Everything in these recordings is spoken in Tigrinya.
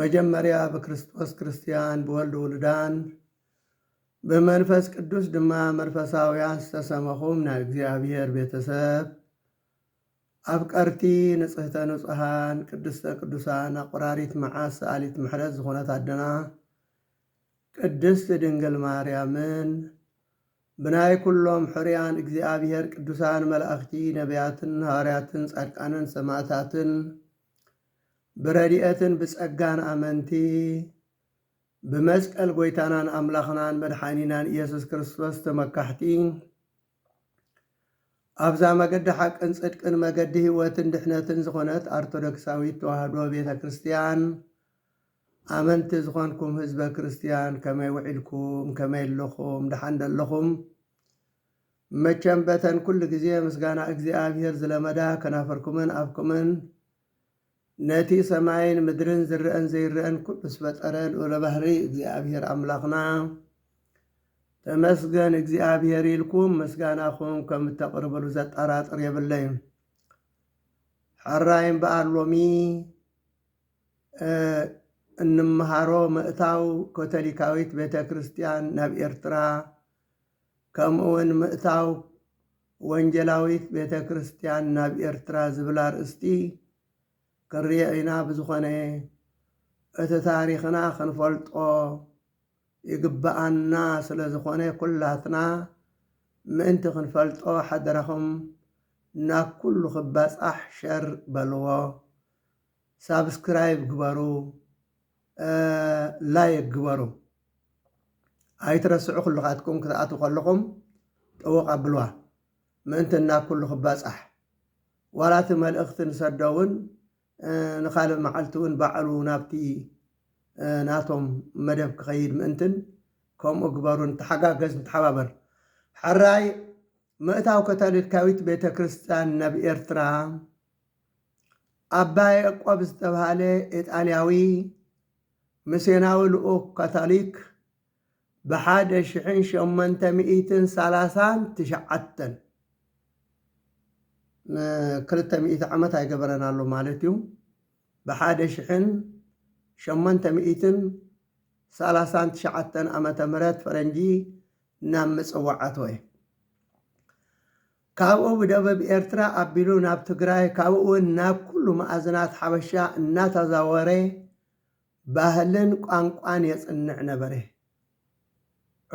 መጀመርያ ብክርስቶስ ክርስትያን ብወልድ ውሉዳን ብመንፈስ ቅዱስ ድማ መርፈሳውያን ዝተሰመኹም ናይ እግዚኣብሔር ቤተሰብ ኣፍቀርቲ ንጽህተ ንጹሃን ቅድስተ ቅዱሳን ኣቁራሪት መዓስ ሰኣሊት ምሕረት ዝኾነት ኣደና ቅድስት ድንግል ማርያምን ብናይ ኩሎም ሕርያን እግዚኣብሔር ቅዱሳን መላእኽቲ ነቢያትን ሃዋርያትን ጻድቃንን ሰማእታትን ብረድኤትን ብጸጋን ኣመንቲ ብመስቀል ጐይታናን ኣምላኽናን መድሓኒናን ኢየሱስ ክርስቶስ ተመካሕቲ ኣብዛ መገዲ ሓቅን ጽድቅን መገዲ ህይወትን ድሕነትን ዝኾነት ኣርቶዶክሳዊት ተዋህዶ ቤተ ክርስቲያን ኣመንቲ ዝኾንኩም ህዝበ ክርስቲያን ከመይ ውዒልኩም ከመይ ኣለኹም ደሓን ደለኹም መቸም በተን ኩሉ ግዜ ምስጋና እግዚኣብሔር ዝለመዳ ከናፍርኩምን ኣፍኩምን ነቲ ሰማይን ምድርን ዝረኣን ዘይረኣን ኩሉ ዝፈጠረ ልኡለ ባህርይ እግዚኣብሔር ኣምላኽና ተመስገን እግዚኣብሔር ኢልኩም ምስጋናኹም ከም እተቕርብሉ ዘጠራጥር የብለይን። ሕራይ እምበኣር ሎሚ እንምሃሮ ምእታው ኮቶሊካዊት ቤተ ክርስቲያን ናብ ኤርትራ ከምኡውን ምእታው ወንጌላዊት ቤተ ክርስቲያን ናብ ኤርትራ ዝብል ኣርእስቲ ክንሪኦ ኢና ብዝኾነ እቲ ታሪኽና ክንፈልጦ ይግብኣና ስለ ዝኾነ ኩላትና ምእንቲ ክንፈልጦ ሓደራኹም ናብ ኩሉ ክባጻሕ ሸር በልዎ። ሳብስክራይብ ግበሩ ላይክ ግበሩ ኣይትረስዑ ኩልኻትኩም ክትኣትዉ ከለኹም ጠወቕ ኣብልዋ ምእንቲ ናብ ኩሉ ክባጻሕ ዋላ እቲ መልእኽቲ ንሰዶ እውን ንኻልእ መዓልቲ እውን ባዕሉ ናብቲ ናቶም መደብ ክኸይድ ምእንትን ከምኡ ግበሩ ንተሓጋገዝ ንተሓባበር ሐራይ ምእታው ከታሊካዊት ቤተ ክርስቲያን ናብ ኤርትራ፣ ኣባ ያእቆብ ዝተብሃለ ኢጣልያዊ ምስዮናዊ ልኡኽ ካታሊክ ብሓደ ሽሕን ሸሞንተ ሚእትን ሰላሳን ትሽዓተን፣ ን ክልተ ሚእቲ ዓመት ኣይገበረን ኣሎ ማለት እዩ፣ ብሓደ ሽሕን ሸሞንተ ሚእትን ሰላሳን ትሽዓተን ዓመተ ምህረት ፈረንጂ ናብ ምጽዋዕ ኣተወ። ካብኡ ብደበብ ኤርትራ ኣቢሉ ናብ ትግራይ ካብኡውን ናብ ኩሉ መኣዝናት ሓበሻ እናታዛወረ ባህልን ቋንቋን የጽንዕ ነበረ።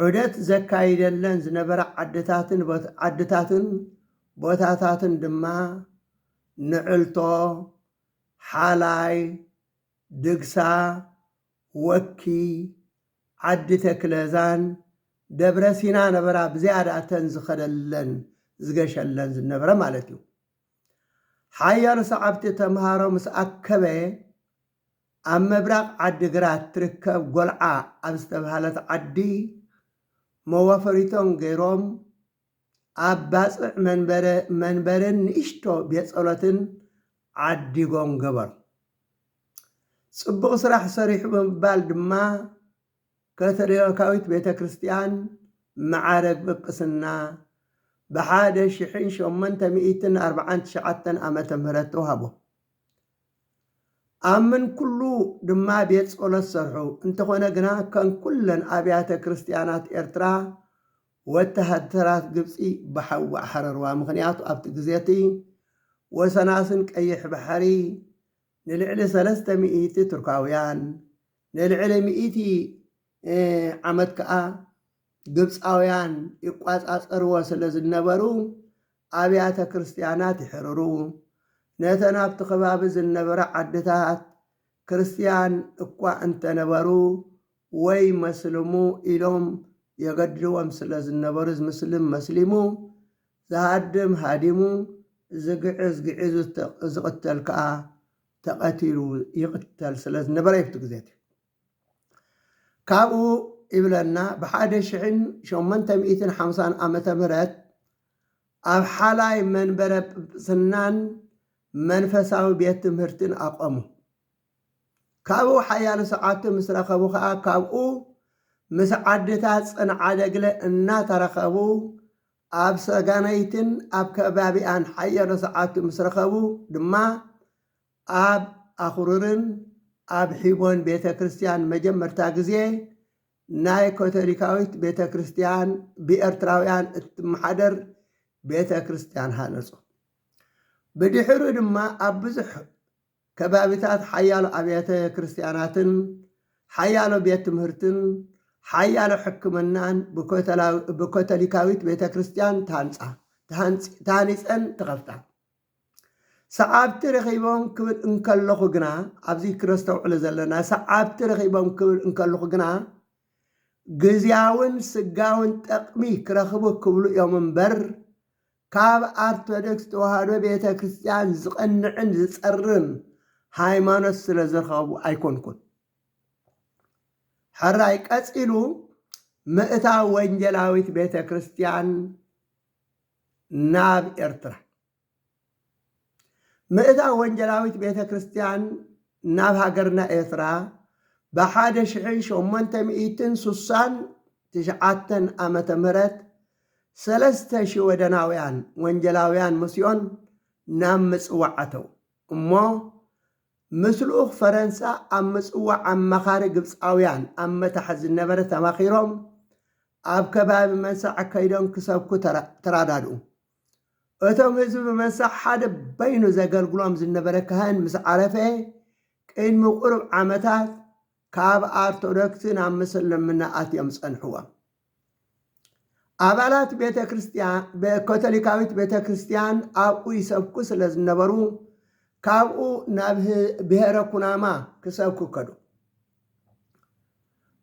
ዑደት ዘካይደለን ዝነበራ ዓድታትን ዓድታትን ቦታታትን ድማ ንዕልቶ፣ ሓላይ፣ ድግሳ፣ ወኪ ዓዲ ተክለዛን ደብረ ሲና ነበራ ብዝያዳ እተን ዝኸደለን ዝገሸለን ዝነበረ ማለት እዩ። ሓያሎ ሰዓብቲ ተምሃሮ ምስ ኣከበ ኣብ ምብራቕ ዓዲ ግራት ትርከብ ጎልዓ ኣብ ዝተብሃለት ዓዲ መዋፈሪቶም ገይሮም ኣብ ባጽዕ መንበረ መንበርን ንእሽቶ ቤት ጸሎትን ዓዲጎም ገበሩ። ጽቡቕ ስራሕ ሰሪሑ ብምባል ድማ ከቶሊካዊት ቤተ ክርስቲያን መዓርግ ጵጵስና ብሓደ ሽሕን ሸሞንተ ሚእትን ኣርብዓን ትሽዓተን ዓመተ ምህረት ተዋህቦ። ኣብ ምንኩሉ ድማ ቤት ጸሎት ሰርሑ፣ እንተኾነ ግና ከም ኩለን ኣብያተ ክርስቲያናት ኤርትራ ወተሃደራት ግብጺ ብሓዊ ኣሕረርዋ፣ ምኽንያቱ ኣብቲ ግዜ'ቲ ወሰናስን ቀይሕ ባሕሪ ንልዕሊ ሰለስተ ሚእቲ ቱርካውያን፣ ንልዕሊ ሚእቲ ዓመት ከኣ ግብጻውያን ይቋጻጸርዎ ስለ ዝነበሩ፣ ኣብያተ ክርስትያናት ይሕርሩ፣ ነተን ኣብቲ ከባቢ ዝነበራ ዓድታት ክርስትያን እኳ እንተነበሩ ወይ መስልሙ ኢሎም የገድድዎም ስለ ዝነበሩ ዝምስልም መስሊሙ፣ ዝሃድም ሃዲሙ፣ ዝግዕዝ ግዒዙ ዝቕተል ከኣ ተቐቲሉ ይቕተል ስለ ዝነበረ እዩ ኣብቲ ግዜ እቲ። ካብኡ ይብለና ብሓደ ሽሕን ሸሞንተ ሚእትን ሓምሳን ዓመተ ምህረት ኣብ ሓላይ መንበረ ጵጵስናን መንፈሳዊ ቤት ትምህርትን ኣቖሙ። ካብኡ ሓያሎ ሰዓብቲ ምስ ረኸቡ ከኣ ካብኡ ምስ ዓድታት ጽንዓደግለ እናተራኸቡ ኣብ ሰገነይትን ኣብ ከባቢኣን ሓያሎ ሰዓብቲ ምስ ረኸቡ ድማ ኣብ ኣኹሩርን ኣብ ሒቦን ቤተ ክርስቲያን መጀመርታ ግዜ ናይ ከቶሊካዊት ቤተ ክርስቲያን ብኤርትራውያን እትመሓደር ቤተ ክርስቲያን ሃነጹ። ብድሕሩ ድማ ኣብ ብዙሕ ከባቢታት ሓያሎ ኣብያተ ክርስትያናትን ሓያሎ ቤት ትምህርትን ሓያሎ ሕክምናን ብካቶሊካዊት ቤተ ክርስትያን ተሃንጻ፣ ተሃኒጸን ተኸፍታ። ሰዓብቲ ረኺቦም ክብል እንከለኹ ግና፣ ኣብዚ ክነስተውዕሎ ዘለና ሰዓብቲ ረኺቦም ክብል እንከለኹ ግና ግዝያውን ስጋውን ጠቕሚ ክረኽቡ ክብሉ እዮም እምበር ካብ ኣርቶደክስ ተዋህዶ ቤተ ክርስትያን ዝቐንዕን ዝጸርም ሃይማኖት ስለ ዝረኸቡ ኣይኮንኩን። ሕራይ ቀጺሉ ምእታው ወንጌላዊት ቤተ ክርስትያን ናብ ኤርትራ ምእታው ወንጌላዊት ቤተ ክርስቲያን ናብ ሃገርና ኤርትራ ብሓደ ሽሕን ሸሞንተ ሚእትን ሱሳን ትሽዓተን ዓመተ ምህረት ሰለስተ ሽወደናውያን ወንጌላውያን ምስዮን ናብ ምጽዋዕ ኣተው እሞ ምስ ልኡኽ ፈረንሳ ኣብ ምጽዋዕ ኣማኻሪ ግብጻውያን ኣብ መታሕት ዝነበረ ተማኺሮም ኣብ ከባቢ መንሳዕ ከይዶም ክሰብኩ ተራዳድኡ። እቶም ህዝቢ ብመሰሕ ሓደ በይኑ ዘገልግሎም ዝነበረ ካህን ምስ ዓረፈ ቅድሚ ቁሩብ ዓመታት ካብ ኣርቶዶክስ ናብ ምስልምና ኣትዮም ጸንሕዎም። ኣባላት ቤተ ክርስቲያን ካቶሊካዊት ቤተ ክርስቲያን ኣብኡ ይሰብኩ ስለ ዝነበሩ ካብኡ ናብ ብሔረ ኩናማ ክሰብኩ ከዱ።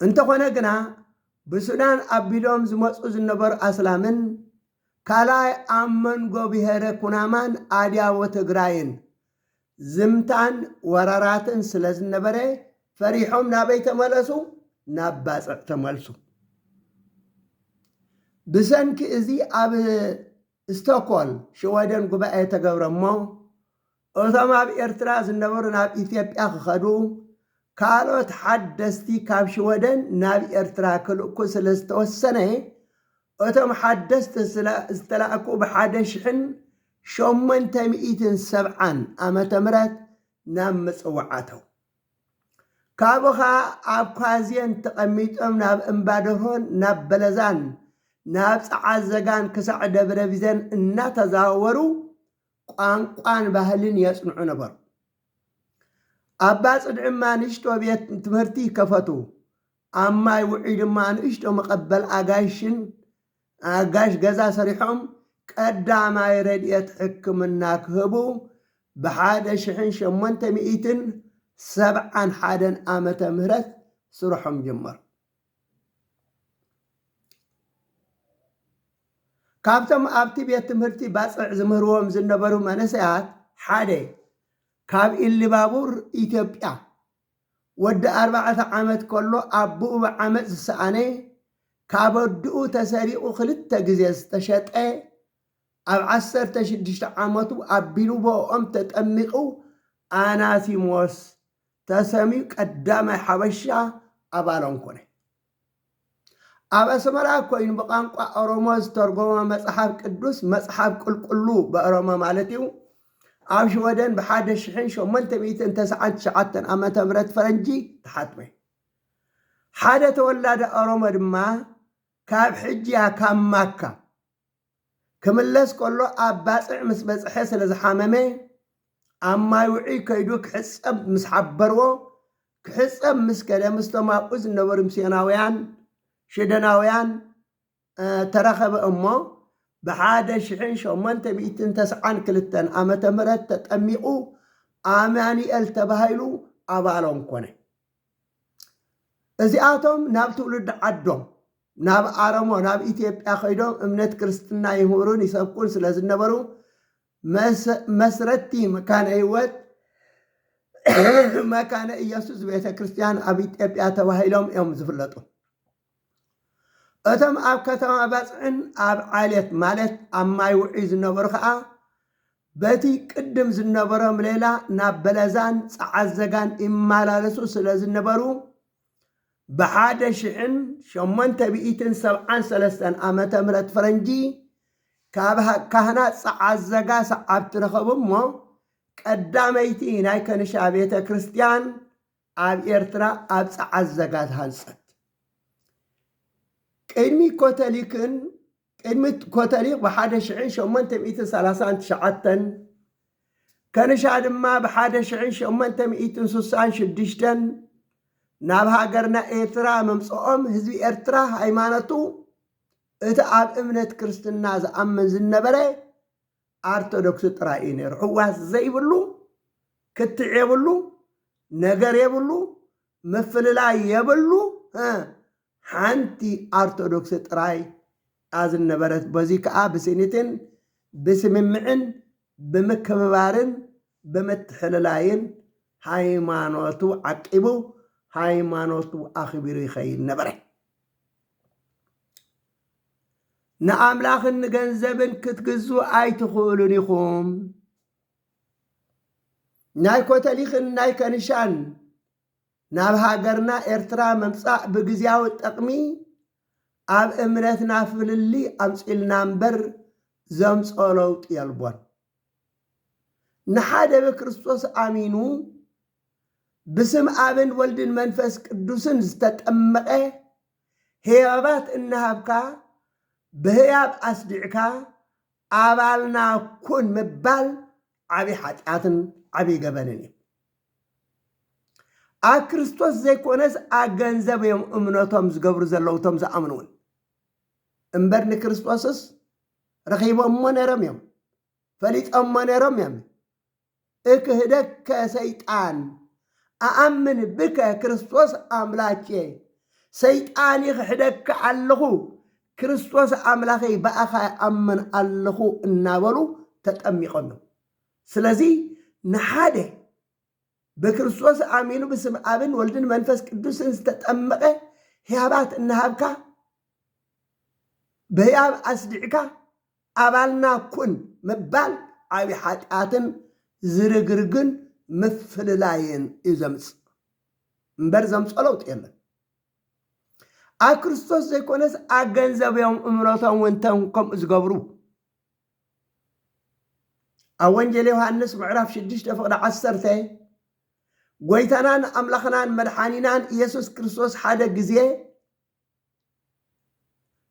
እንተኾነ ግና ብሱዳን ኣቢሎም ዝመጹ ዝነበሩ ኣስላምን ካልኣይ ኣብ መንጎ ብሄረ ኩናማን ኣድያቦ ትግራይን ዝምታን ወረራትን ስለዝነበረ ፈሪሖም ናበይ ተመለሱ? ናብ ባጽዕ ተመልሱ። ብሰንኪ እዚ ኣብ ስቶኮል ሽወደን ጉባኤ ተገብረ እሞ እቶም ኣብ ኤርትራ ዝነበሩ ናብ ኢትዮጵያ ክኸዱ፣ ካልኦት ሓደስቲ ካብ ሽወደን ናብ ኤርትራ ክልእኩ ስለ ዝተወሰነ፣ እቶም ሓደስቲ ዝተላእኩ ብ ሓደ ሽሕን ሸሞንተ ሚእትን ሰብዓን ዓመተ ምህረት ናብ ምጽዋዕ ኣተው። ካብኡ ከኣ ኣብ ኳዜን ተቐሚጦም ናብ እምባደርሆን ናብ በለዛን ናብ ጸዓዘጋን ክሳዕ ደብረቢዘን እናተዛዋወሩ ቋንቋን ባህልን የጽንዑ ነበሩ። ኣብ ባጽድ እማ ንእሽቶ ቤት ትምህርቲ ይከፈቱ። ኣብ ማይ ውዑይ ድማ ንእሽቶ መቐበል ኣጋይሽን ኣጋሽ ገዛ ሰሪሖም ቀዳማይ ረድኤት ሕክምና ክህቡ ብሓደ ሽሕን ሸሞንተ ሚእትን ሰብዓን ሓደን ዓመተ ምህረት ስርሖም ጀመሩ። ካብቶም ኣብቲ ቤት ትምህርቲ ባጽዕ ዝምህርዎም ዝነበሩ መንእሰያት ሓደ፣ ካብ ኢሊባቡር ኢትዮጵያ፣ ወዲ ኣርባዕተ ዓመት ከሎ ኣቡኡ ብዓመጽ ዝሰኣነ፣ ካብ ኣዱኡ ተሰሪቑ ክልተ ግዜ ዝተሸጠ፣ ኣብ ዓሰርተ ሽዱሽተ ዓመቱ ኣብ ቢልቦኦም ተጠሚቑ ኣናሲሞስ ተሰምዩ ቀዳማይ ሓበሻ ኣባሎም ኮነ። ኣብ ኣስመራ ኮይኑ ብቛንቋ ኦሮሞ ዝተርጎመ መጽሓፍ ቅዱስ መጽሓፍ ቁልቁሉ ብኦሮሞ ማለት እዩ ኣብ ሽወደን ብሓደ ሽሕን ሸሞንተ ሚእትን ተስዓን ትሽዓተን ዓመተ ምህረት ፈረንጂ ተሓትመ። ሓደ ተወላዲ ኦሮሞ ድማ ካብ ሕጂያ ካብ ማካ ክምለስ ከሎ ኣብ ባጽዕ ምስ በጽሐ ስለ ዝሓመመ ኣብ ማይ ውዑይ ከይዱ ክሕጸብ ምስ ሓበርዎ ክሕጸብ ምስ ከደ ምስቶም ኣብኡ ዝነበሩ ምስዮናውያን ሽደናውያን ተራኸበ እሞ ብሓደ ሽሕን ሸሞንተ ሚእትን ተስዓን ክልተን ዓመተ ምህረት ተጠሚቑ ኣማኑኤል ተባሂሉ ኣባሎም ኮነ። እዚኣቶም ናብ ትውልዲ ዓዶም ናብ ኣረሞ ናብ ኢትዮጵያ ከይዶም እምነት ክርስትና ይምህሩን ይሰብኩን ስለ ዝነበሩ መስረቲ መካነ ህይወት መካነ ኢየሱስ ቤተ ክርስቲያን ኣብ ኢትዮጵያ ተባሂሎም እዮም ዝፍለጡ። እቶም ኣብ ከተማ ባጽዕን ኣብ ዓሌት ማለት ኣብ ማይ ውዑይ ዝነበሩ ከኣ በቲ ቅድም ዝነበሮም ሌላ ናብ በለዛን ጸዓዘጋን ይመላለሱ ስለ ዝነበሩ ብሓደ ሽሕን ሸሞንተ ሚእትን ሰብዓን ሰለስተን ዓመተ ምህረት ፈረንጂ ካብ ካህናት ጸዓዘጋ ሰዓብቲ ረኸቡ እሞ ቀዳመይቲ ናይ ከንሻ ቤተ ክርስቲያን ኣብ ኤርትራ ኣብ ጸዓት ዘጋት ሃንጸት ቅድሚ ኮተሊክን ቅድሚ ኮተሊክ ብሓደ ሽሕን ሸሞንተ ሚእትን ሰላሳን ትሽዓተን ከንሻ ድማ ብሓደ ሽሕን ሸሞንተ ሚእትን ስሳን ሽዱሽተን ናብ ሃገርና ኤርትራ ምምጽኦም ህዝቢ ኤርትራ ሃይማኖቱ እቲ ኣብ እምነት ክርስትና ዝኣምን ዝነበረ ኣርቶዶክስ ጥራይ እዩ ነይሩ ሕዋስ ዘይብሉ ክትዕ የብሉ ነገር የብሉ ምፍልላይ የብሉ ሓንቲ ኣርቶዶክስ ጥራይ ኣዝነበረት በዚ ከዓ ብስኒትን ብስምምዕን ብምክብባርን ብምትሕልላይን ሃይማኖቱ ዓቂቡ ሃይማኖቱ ኣኽቢሩ ይኸይድ ነበረ። ንኣምላኽን ንገንዘብን ክትግዙ ኣይትኽእሉን ኢኹም። ናይ ኮተሊኽን ናይ ከንሻን ናብ ሃገርና ኤርትራ ምምጻእ ብግዜያዊ ጠቕሚ ኣብ እምነትና ፍልሊ ኣምጺልና እምበር ዘምጾ ለውጢ የልቦን። ንሓደ ብክርስቶስ ኣሚኑ ብስም ኣብን ወልድን መንፈስ ቅዱስን ዝተጠመቐ ህያባት እናሃብካ ብህያብ ኣስዲዕካ ኣባልና ኩን ምባል ዓብይ ሓጢኣትን ዓብይ ገበንን እዩ። ኣብ ክርስቶስ ዘይኮነስ ኣብ ገንዘብ እዮም እምነቶም ዝገብሩ ዘለዉ እቶም ዝኣምኑ እውን እምበር ንክርስቶስስ ረኺቦሞ ነይሮም እዮም ፈሊጦሞ ነይሮም እዮም እክህደከ ሰይጣን ኣኣምን ብከ ክርስቶስ ኣምላኬ ሰይጣን ይኽሕደካ ኣለኹ ክርስቶስ ኣምላኸይ ብኣኻ ይኣምን ኣለኹ እናበሉ ተጠሚቆም እዮም ስለዚ ንሓደ ብክርስቶስ ኣሚኑ ብስም ኣብን ወልድን መንፈስ ቅዱስን ዝተጠመቐ ህያባት እናሃብካ በህያብ ኣስዲዕካ ኣባልና ኩን ምባል ዓቢ ሓጢኣትን ዝርግርግን ምፍልላይን እዩ ዘምጽእ እምበር ዘምጾ ለውጢ የለን። ኣብ ክርስቶስ ዘይኮነስ ኣገንዘብዮም እምነቶም እውን ተም ከምኡ ዝገብሩ ኣብ ወንጌል ዮሃንስ ምዕራፍ 6 ፍቕዲ 1 ጎይታናን ኣምላኽናን መድሓኒናን ኢየሱስ ክርስቶስ ሓደ ግዜ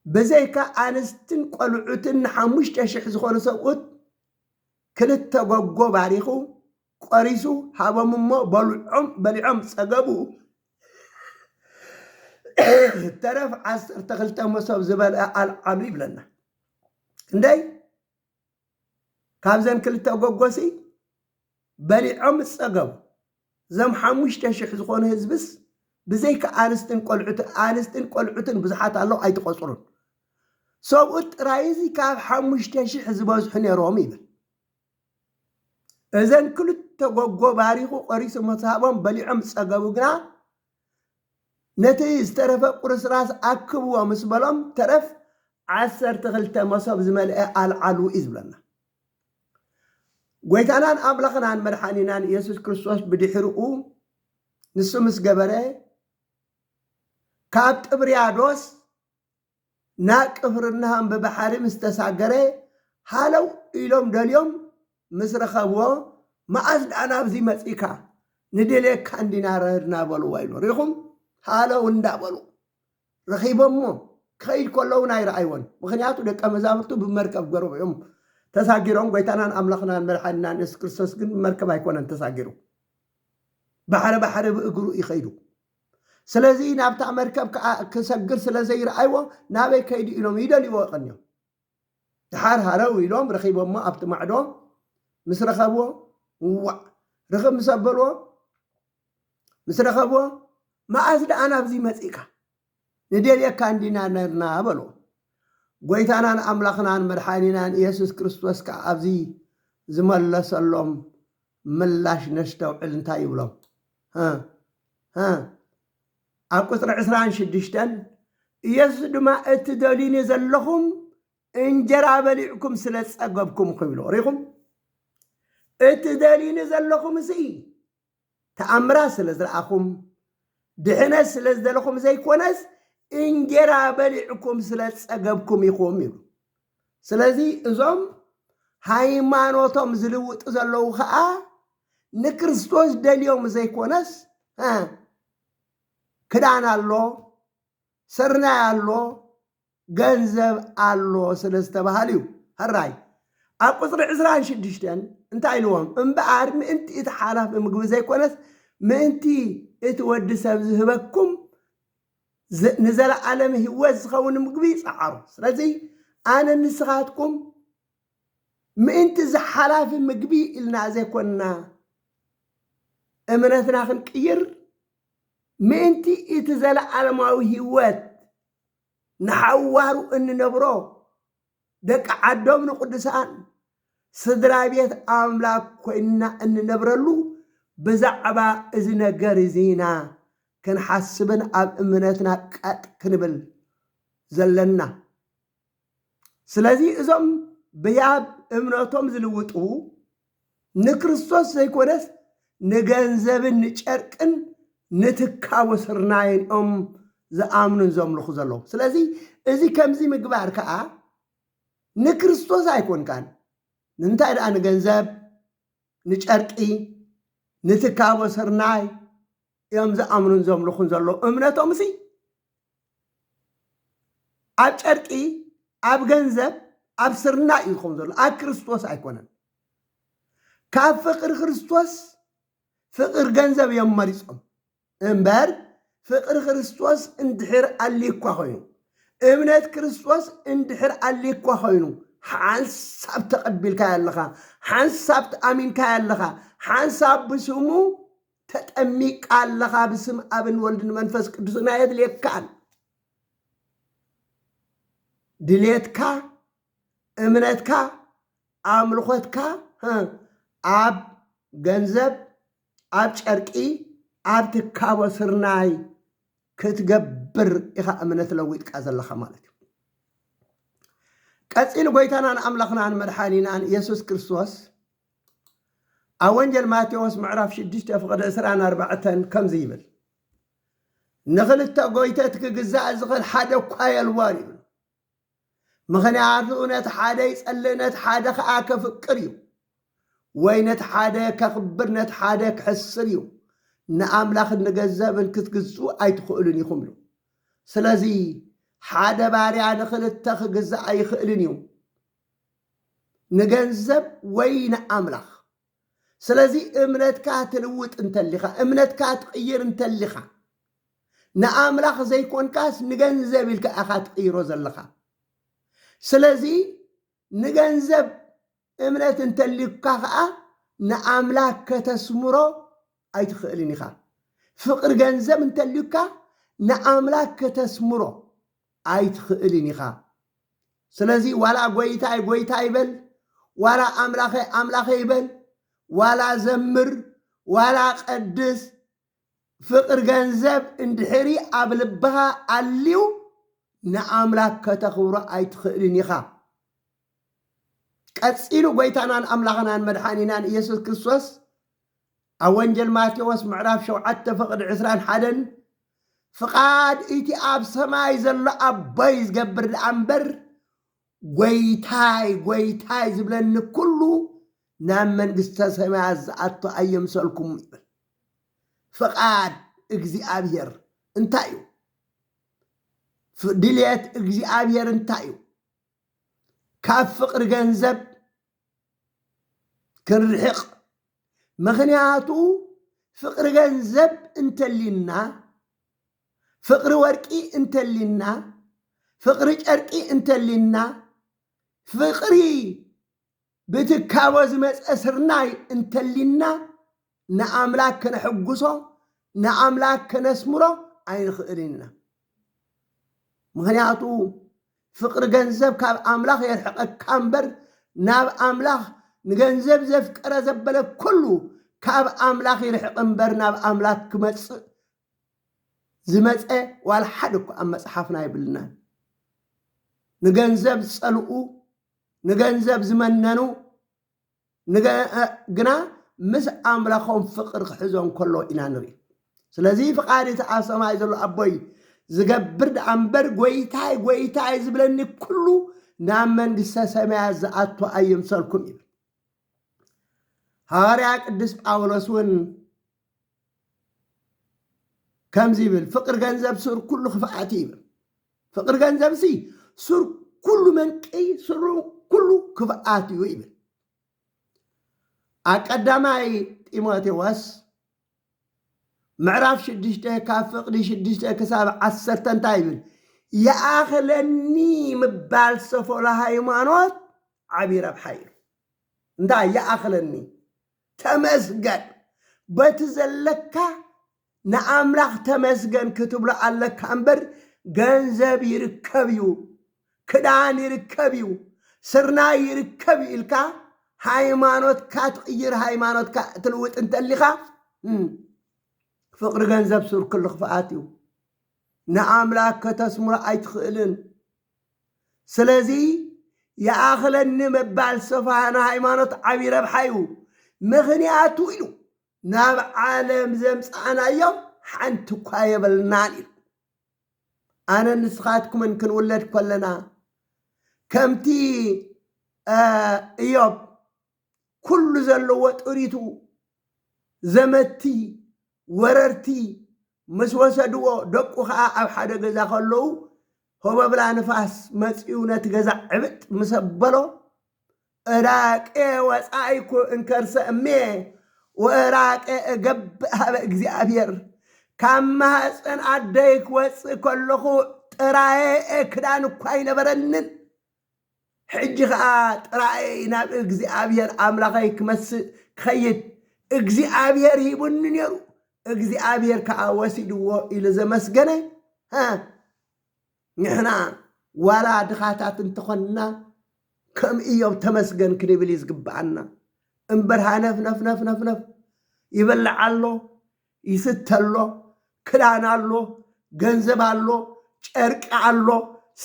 ብዘይካ ኣንስትን ቆልዑትን ንሓሙሽተ ሽሕ ዝኾኑ ሰብኡት ክልተ ጎጎ ባሪኹ ቆሪሱ ሃቦም እሞ በልዖም በሊዖም ጸገቡ። ተረፍ ዓሰርተ ክልተ መሶብ ዝበልዐ ኣልዓሉ ይብለና። ክንደይ ካብዘን ክልተ እጎጎሲ በሊዖም ዝጸገቡ ዘም ሓሙሽተ ሽሕ ዝኾኑ ህዝብስ ብዘይካ ኣንስትን ቆልዑትን ኣንስትን ቆልዑትን ብዙሓት ኣለዉ ኣይትቆጽሩን ሰብኡት ጥራይ እዚ ካብ ሓሙሽተ ሽሕ ዝበዝሑ ነይሮም ይብል እዘን ክልተ ጎጎ ባሪኹ ቆሪሱ መሳቦም በሊዖም ዝጸገቡ ግና ነቲ ዝተረፈ ቁርስራስ ኣክብዎ ምስ በሎም ተረፍ ዓሰርተ ክልተ መሶብ ዝመልኤ ኣልዓሉ እዩ ዝብለና። ጎይታናን ኣምላኽናን መድሓኒናን ኢየሱስ ክርስቶስ ብድሕርኡ ንሱ ምስ ገበረ ካብ ጥብርያዶስ ናብ ቅፍርናሆም ብባሕሪ ምስ ተሳገረ፣ ሃለው ኢሎም ደልዮም ምስ ረኸብዎ፣ መኣስ ደኣ ናብዚ መጺእካ? ንደልየካ እንዲና ረህድና በልዎ ኢሉ። ርኢኹም? ሃለው እንዳበሉ ረኺቦምዎ። ክኸይድ ከሎ እውን ኣይረኣይዎን፣ ምኽንያቱ ደቀ መዛሙርቱ ብመርከብ ገሮም እዮም ተሳጊሮም፣ ጐይታናን ኣምላኽናን መድሓኒናን የሱስ ክርስቶስ ግን ብመርከብ ኣይኮነን ተሳጊሩ፣ ባሕሪ ባሕሪ ብእግሩ እዩ ከይዱ። ስለዚ ናብታ መርከብ ከኣ ክሰግር ስለ ዘይረኣይዎ ናበይ ከይዱ ኢሎም ይደልይዎ ቀንዮም። ደሓር ሃረው ኢሎም ረኺቦሞ ኣብቲ ማዕዶ ምስ ረኸብዎ እዋእ ርኽብ ምስ ኣበልዎ ምስ ረኸብዎ መኣስ ደኣ ናብዚ መጺእካ ንደልየካ እንዲና ነርና በልዎ። ጐይታናን ኣምላኽናን መድሓኒናን ኢየሱስ ክርስቶስ ከኣ ኣብዚ ዝመለሰሎም ምላሽ ነስተውዕል እንታይ ይብሎም። ሀ ሀ ኣብ ቁፅሪ ዕስራን ሽዱሽተን ኢየሱስ ድማ እቲ ደልዩኒ ዘለኹም እንጀራ በሊዕኩም ስለ ዝፀገብኩም ክብሉ ሪኹም እቲ ደልዩኒ ዘለኹም እዚ ተኣምራት ስለ ዝረኣኹም ድሕነት ስለ ዝደለኹም ዘይኮነስ እንጀራ በሊዕኩም ስለ ዝፀገብኩም ኢኹም ይብሉ ስለዚ እዞም ሃይማኖቶም ዝልውጡ ዘለዉ ኸኣ ንክርስቶስ ደልዮም ዘይኮነስ እ ክዳን ኣሎ፣ ስርናይ ኣሎ፣ ገንዘብ ኣሎ ስለ ዝተባህሉ እዩ። ሕራይ ኣብ ቁጽሪ ዕስራን ሽዱሽተን እንታይ ኢልዎም? እምበኣር ምእንቲ እቲ ሓላፊ ምግቢ ዘይኮነስ ምእንቲ እቲ ወዲ ሰብ ዝህበኩም ንዘለዓለም ህይወት ዝኸውን ምግቢ ጸዓሩ። ስለዚ ኣነ ንስኻትኩም ምእንቲ እዚ ሓላፊ ምግቢ ኢልና ዘይኮንና እምነትና ክንቅይር ምእንቲ እቲ ዘለዓለማዊ ህይወት ንሓዋሩ እንነብሮ ደቂ ዓዶም ንቅዱሳን ስድራ ቤት ኣምላክ ኮይንና እንነብረሉ ብዛዕባ እዚ ነገር እዚ ኢና ክንሓስብን ኣብ እምነትና ቀጥ ክንብል ዘለና ስለዚ እዞም ብያብ እምነቶም ዝልውጡ ንክርስቶስ ዘይኮነስ ንገንዘብን ንጨርቅን ንትካቦ ስርናይን እዮም ዝኣምኑን ዘምልኹ ዘለዉ። ስለዚ እዚ ከምዚ ምግባር ከኣ ንክርስቶስ ኣይኮንካን። ንምንታይ ደኣ ንገንዘብ፣ ንጨርቂ፣ ንትካቦ ስርናይ እዮም ዝኣምኑን ዘምልኹን ዘለዉ። እምነቶምሲ ኣብ ጨርቂ ኣብ ገንዘብ ኣብ ስርናይ እዩ ዝኸውን ዘሎ ኣብ ክርስቶስ ኣይኮነን ካብ ፍቅሪ ክርስቶስ ፍቅሪ ገንዘብ እዮም መሪፆም እምበር ፍቅሪ ክርስቶስ እንድሕር ኣልኳ ኮይኑ እምነት ክርስቶስ እንድሕር ኣልኳ ኮይኑ ሓንሳብ ተቐቢልካዮ ኣለኻ ሓንሳብ ተኣሚንካዮ ኣለኻ ሓንሳብ ብስሙ ተጠሚቅካ ኣለኻ ብስም ኣብን ወልድን መንፈስ ቅዱስን ኣየድልየካን ድሌትካ እምነትካ ኣምልኾትካ ኣብ ገንዘብ ኣብ ጨርቂ ኣብ ትካቦ ስርናይ ክትገብር ኢኻ እምነት ለዊጥካ ዘለኻ ማለት እዩ ቀፂሉ ጎይታናን ኣምላኽናን መድሓኒናን የሱስ ክርስቶስ ኣብ ወንጌል ማቴዎስ ምዕራፍ ሽዱሽተ ፍቕዲ ዕስራን ኣርባዕተን ከምዚ ይብል ንኽልተ ጎይተት ክግዛእ ዝኽእል ሓደ እኳ የልቦን ይብሉ ምኽንያቱ ነቲ ሓደ ይጸልእ ነቲ ሓደ ኸዓ ከፍቅር እዩ ወይ ነቲ ሓደ ከኽብር ነቲ ሓደ ክሕስር እዩ ንኣምላኽን ንገንዘብን ክትግዝኡ ኣይትኽእሉን ኢኹም ኢሉ ስለዚ ሓደ ባርያ ንኽልተ ክግዛእ ኣይኽእልን እዩ ንገንዘብ ወይ ንኣምላኽ። ስለዚ እምነትካ ትልውጥ እንተሊኻ እምነትካ ትቕይር እንተሊኻ ንኣምላኽ ዘይኮንካስ ንገንዘብ ኢልካ ኢኻ ትቕይሮ ዘለኻ። ስለዚ ንገንዘብ እምነት እንተሊካ ከዓ ንኣምላክ ከተስምሮ ኣይትኽእልን ኢኻ። ፍቅሪ ገንዘብ እንተልዩካ ንኣምላክ ከተስምሮ ኣይትኽእልን ኢኻ ስለዚ ዋላ ጎይታይ ጎይታይ በል ዋላ ኣምላኸይ ኣምላኸይ በል ዋላ ዘምር ዋላ ቀድስ ፍቅር ገንዘብ እንድሕሪ ኣብ ልብኻ ኣልዩ ንኣምላክ ከተኽብሮ ኣይትኽእልን ኢኻ ቀጺሉ ጎይታናን ኣምላኽናን መድሓኒናን ኢየሱስ ክርስቶስ ኣብ ወንጌል ማቴዎስ ምዕራፍ ሸውዓተ ፍቕዲ ዕስራን ሓደን ፍቓድ እቲ ኣብ ሰማይ ዘሎ ኣቦይ ዝገብር ደኣ እምበር ጐይታይ ጐይታይ ዝብለኒ ኩሉ ናብ መንግስተ ሰማያት ዝኣቶ ኣየምሰልኩም ይብል ፍቓድ እግዚኣብሔር እንታይ እዩ ድልየት እግዚኣብሔር እንታይ እዩ ካብ ፍቕሪ ገንዘብ ክንርሕቕ ምኽንያቱ ፍቕሪ ገንዘብ እንተሊና ፍቕሪ ወርቂ እንተሊና ፍቕሪ ጨርቂ እንተሊና ፍቕሪ ብትካቦ ዝመፀ ስርናይ እንተሊና ንኣምላክ ከነሕጉሶ ንኣምላክ ከነስምሮ ኣይንኽእልን ኢና ምክንያቱ ፍቅሪ ገንዘብ ካብ ኣምላኽ የርሕቀካ እምበር ናብ ኣምላኽ ንገንዘብ ዘፍቀረ ዘበለ ኩሉ ካብ ኣምላኽ ይርሕቅ እምበር ናብ ኣምላክ ክመጽእ ዝመፀ ዋላ ሓደ እኮ ኣብ መፅሓፍና ኣይብልናን ንገንዘብ ዝፀልኡ ንገንዘብ ዝመነኑ ግና ምስ ኣምላኾም ፍቕሪ ክሕዞ እንከሎ ኢና ንርኢ። ስለዚ ፍቓድ እቲ ኣብ ሰማይ ዘሎ ኣቦይ ዝገብር ደኣ እምበር ጐይታይ ጐይታይ ዝብለኒ ኩሉ ናብ መንግስተ ሰማያት ዝኣቱ ኣይምሰልኩም ይብል። ሃዋርያ ቅዱስ ጳውሎስ እውን ከምዚ ይብል ፍቅሪ ገንዘብ ሱር ኩሉ ክፍኣት እዩ ይብል ፍቅሪ ገንዘብ ሲ ሱር ኩሉ መንቅይ ሱሩ ኩሉ ክፍኣት እዩ ይብል ኣብ ቀዳማይ ጢሞቴዎስ ምዕራፍ ሽዱሽተ ካብ ፍቅዲ ሽዱሽተ ክሳብ ዓሰርተ እንታይ ይብል ይኣኽለኒ ምባል ሰፎላ ሃይማኖት ዓብዪ ረብሓ እዩ እንታይ ይኣኽለኒ ተመስገን በቲ ዘለካ ንኣምላኽ ተመስገን ክትብሎ ኣለካ እምበር ገንዘብ ይርከብ እዩ ክዳን ይርከብ እዩ ስርናይ ይርከብ እዩ ኢልካ ሃይማኖትካ ትቕይር ሃይማኖትካ ትልውጥ እንተሊኻ ፍቕሪ ገንዘብ ሱር ክሉ ክፍኣት እዩ ንኣምላክ ከተስምሮ ኣይትኽእልን ስለዚ ይኣኽለኒ ምባል ሰፋሕና ሃይማኖት ዓብዪ ረብሓ እዩ። ምኽንያቱ ኢሉ ናብ ዓለም ዘምጻእናዮም ሓንቲ እኳ የብልናን ኢሉ። ኣነን ንስኻትኩምን ክንውለድ ከለና ከምቲ እዮብ ኩሉ ዘለዎ ጥሪቱ ዘመቲ ወረርቲ ምስ ወሰድዎ ደቁ ኸኣ ኣብ ሓደ ገዛ ከለዉ ሆበብላ ንፋስ መጺኡ ነቲ ገዛ ዕብጥ ምስ ኣበሎ እራቄ ወጻኢኩ እንከርሰ እሜ ወእራቄ እገብእ ሃበ እግዚኣብሔር ካብ ማህፀን ኣደይ ክወፅእ ከለኹ ጥራየ ክዳን እኳ ኣይነበረንን ሕጂ ኸኣ ጥራይ ናብ እግዚኣብሄር ኣምላኸይ ክመጽእ ክኸይድ እግዚኣብሄር ሂቡኒ ነይሩ፣ እግዚኣብሄር ከኣ ወሲድዎ ኢሉ ዘመስገነ ንሕና ዋላ ድኻታት እንተኾንና ከም እዮብ ተመስገን ክንብል እዩ ዝግብኣና እምበር ሃነፍነፍነፍነፍነፍ ይበልዕ ኣሎ ይስተ ኣሎ፣ ክዳን ኣሎ፣ ገንዘብ ኣሎ፣ ጨርቂ ኣሎ፣